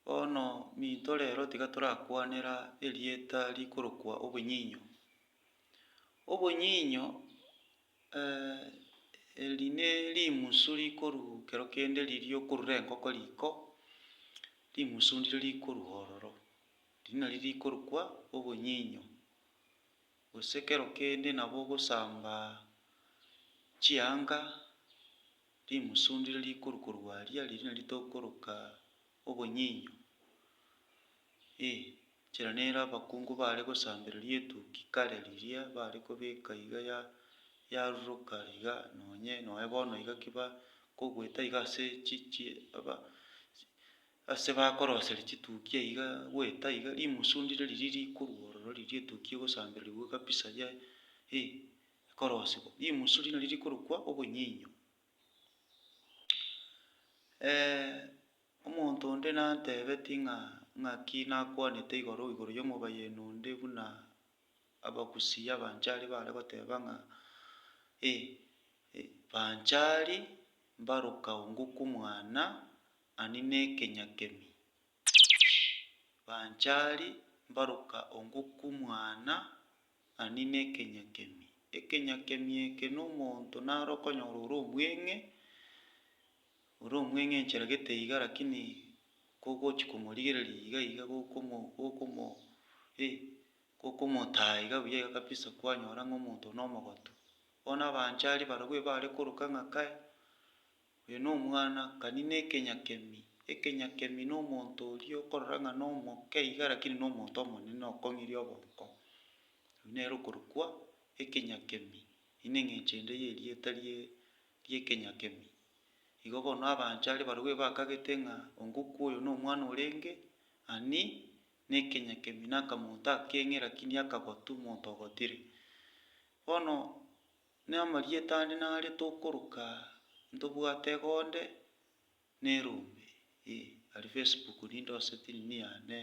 Bono minto rero tiga torakwanera erieta rikorokwa obonyinyo. Obonyinyo eri nerimusu rikorwa kero kende riria okorura engoko riko, rimusu ndiro rikorwa ororo, eri nari rikorokwa obonyinyo. Gose kero kende nabo ogosamba chianga. Timosundire rikuru korwa aria riria nari tokoroka obonyinyo, ee, nchera nere abakungu baare gosambereria etuki kare riria baare kobeka iga ya yaruruka iga nonye noe bono iga ki ba kogweta iga ase chi chi aba ase bakoroseria chituki ai iga gweta iga rimosundire riria rikuru ororo riria etuki egosambererigwe kabisa yaani ee. ekorosigwa, rimusu riria nario rikorokwa obonyinyo. omonto onde nantebeti ng'a ng'aki nakwanete igoro igoro y'omobayeni onde buna abagusii abanchari bare goteba ng'a eh, banchari mbaroka ongo kw'omwana ani na ekenyakemi. Banchari mbaroka ongoku mwana ani nekenyakemi. Ekenyakemi eke nomonto naro okonyora ore omweng'e, ore omweng'e enchera gete iga lakini kogochi komorigereria iga iga gokomo gokomo eh gokomotaa iga buya iga kabisa kwanyora ng'a omonto oyo nomogoto. Bono abanchari barobwo ebare koroka ng'a kae. Oyo nomwana, kani nekenyakemi. Ekenyakemi nomonto oria okorora ng'a nomoke iga lakini nomonto omonene okong'iria obonko. Oyio nere okorokwa ekenyakemi, eyio neng'encho ende yerieta rie riekenyakemi. Igo bono abanchari barobwo ebakagete ng'a ongokwa oyo nomwana orenge ani nekenyakemi nakamonto akeng'e lakini akagoti omonto ogotire. Bono. Namarieta ande nare tokoroka ntobwate egonde na erombe eh aria Facebook ninde ose tindi niane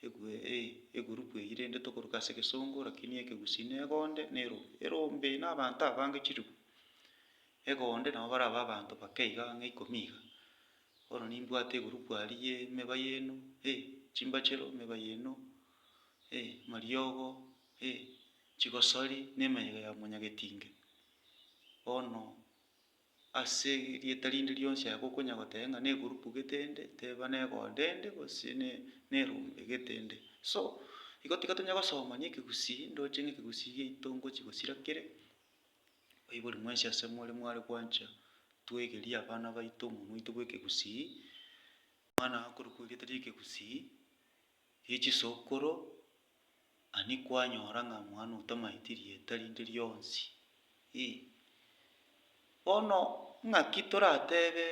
egwe eh egurupu eyio rende tokoroka ase egesongo lakini ekegusii na egonde na erombe. Erombe na abanto abange chilifu, egonde nabo bare abe abanto bake iga ang'e ikomi iga. Bono nimbwate egurupu aria ye emeba yaino eh chimbachero emeba yaino eh mariogo eh Chigosori nemeyega ya omonyagetinge bono ase erieta rinde rionsi aye gokonya goteba ng'a negurupu gete ende teba negonde ende gose ne nerombe gete ende. So igo tiga tonya gosomania ekegusii ndoche ng'a ekegusii giaito ngochi gosira kere, baibori mwensi ase more mware gwancha twegerie abana baito omonwa oito bw'ekegusii, omwana akorokwa erieta ri'ekegusii. gie chisokoro, ani kwanyora ng'a omwana oo tamaeti rieta rinde rionsi? Ii. Bono ng'aki toratebe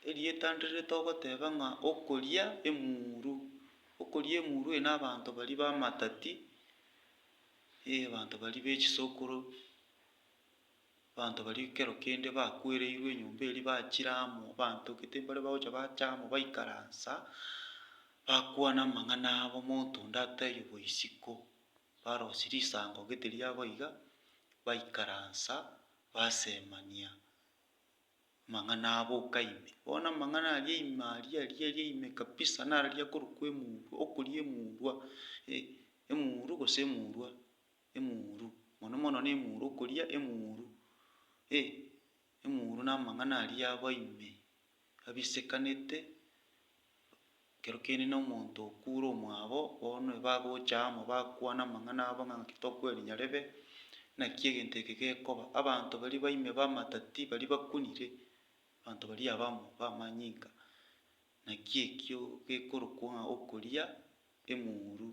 erieta ndire ritogoteba ng'a okoria emuru? Okoria emuru eye nabanto baria bamatati, ee abanto baria be chisokoro. Abanto baria ekero kende bakwereirwe enyomba eria bachire amo, abanto gete mbare bagocha bacha amo baikaransa, bakwana amang'ana abo, omonto onde atebia obo isiko, barosia risango gete riabo iga, baikaransa basemania amang'ana abo boka ime. Bono amang'ana aria ime aria aria aria ime kabisa nararia akorokwa emurwa, okoria emurwa, eh, emurwa gose emurwa. Emuru, mono mono nemuru, okoria emuru, eh, emuru namang'ana aria aba ime, abisekanete, ekero kiainena omonto okure omwabo, bono bagocha amo bakwana amang'ana abo ng'a naki tokweri nyarebe, naki egento eke gekoba. Abanto baria baime bamatati baria bakunire, abanto baria abamo bamanyinga, Naki ekio gekorokwa okoria emuru.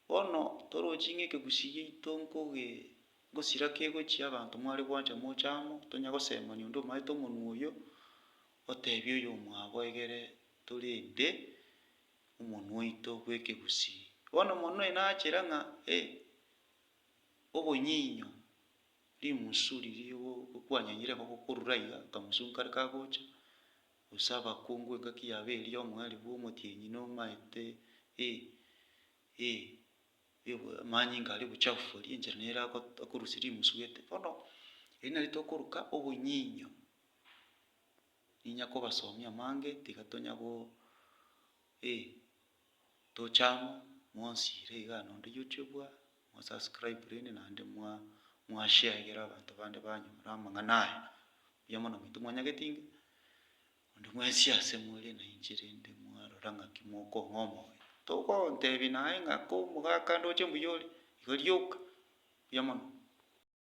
Bono toroche ng'a ekegusi giaito nkoge ngosira kegochia abanto mware gwancha moche amo, tonya gosemani onde omaete omonwa oyo, otebia oyomwabo egere torende omonwa oito bw'ekegusi. Bono mono oye nachera ng'a eh, obonyinyo, rimusu riria ogo okwanyanyire gokorura iga, akamusu nkare kagocha, gose abakungu engaki yabo eria omoerio bw'omotienyi nomaete, ee, ee, ee, amanyinga aria obochafu boria enchera nere ago- akorusia rimusu gete. Bono eri nari tokoruka obonyinyo, ninya kobasomia amange tiga tonya go, ee. tochamo mwonsire igaa nonde yochwe bwa mwasubscriberene naende mwa mwasheagera abanto bande banyora amang'ana aya. Mbuya mono baito mwanyagete inga, onde mwensi ase more na inche rende mwarora ng'aki mokong'a omoyo. Togontebia naye ng'a ko omogaka ndoche mbuya ore, iga rioka. Mbuya mono.